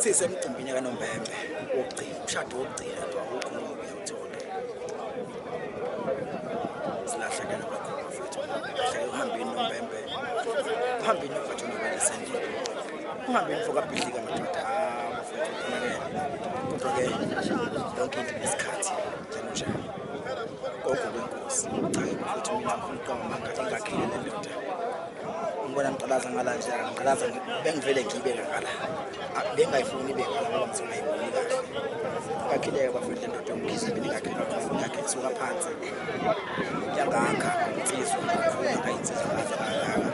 sisemcimbini kanombembe wokugcina umshado wokugcina nje awukho ngoba uyawuthola silahlekela kakhulu mfethu hleke uhambeni nombembe uhambeni mfethu nobalisendile uhambeni fokabhidlika madoda mfethu uphumele kodwa-ke yonke into nesikhathi njengonjalo konke kwenkosi cha mfethu mina ngifuna uqonga manga ingakhile le ndoda Ngibona ngiqalaza ngala nje, ngiqalaza bengivele ngibe ngala. Bengayifuni ibe ngala ngoba ngizona ayiboni kahle. Kakhileke bafuna le ndoda yomkhize beningakhe ngakhe kusuka phansi. Yangakha insizwa kakhulu akayinsizwa kaze kangaka.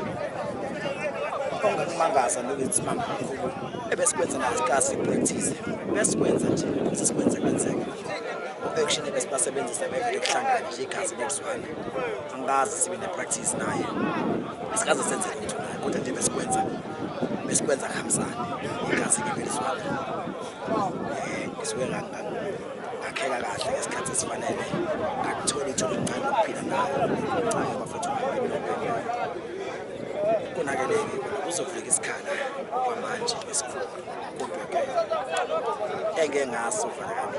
Ongakumangaza loku isimanga kakhulu. Ebesikwenza nayo isikasi practice. Besikwenza nje, sesikwenze kwenzeka. U-action ebesibasebenzisa bevele kuhlangana nje igazi nekuzwana. angikaze sibe ne-practice naye asikaze senze lutho naye kodwa nje besikwenza besikwenza kuhambisane igazi ngebelizwana um eh, ngisuke ngakheka kahle ngesikhathi esifanele ngakuthola ithuba elincane lokuphila nayo ncayo bafethu kunakeleke kuzofika isikhala kwamanje esikhulu kodwa ke engeke ngaso fanekane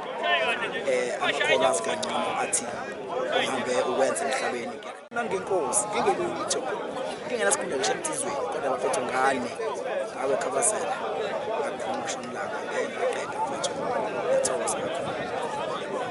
eh amakhono asikangcono athi uhambe ukwenza emhlabeni nangenkosi ngingelutho ngingenasikhundla ngisho emthizweni kodwa bafethu ngane ngawe khabazela ngakhona ushonilanga ngeke ngaqeda mfethu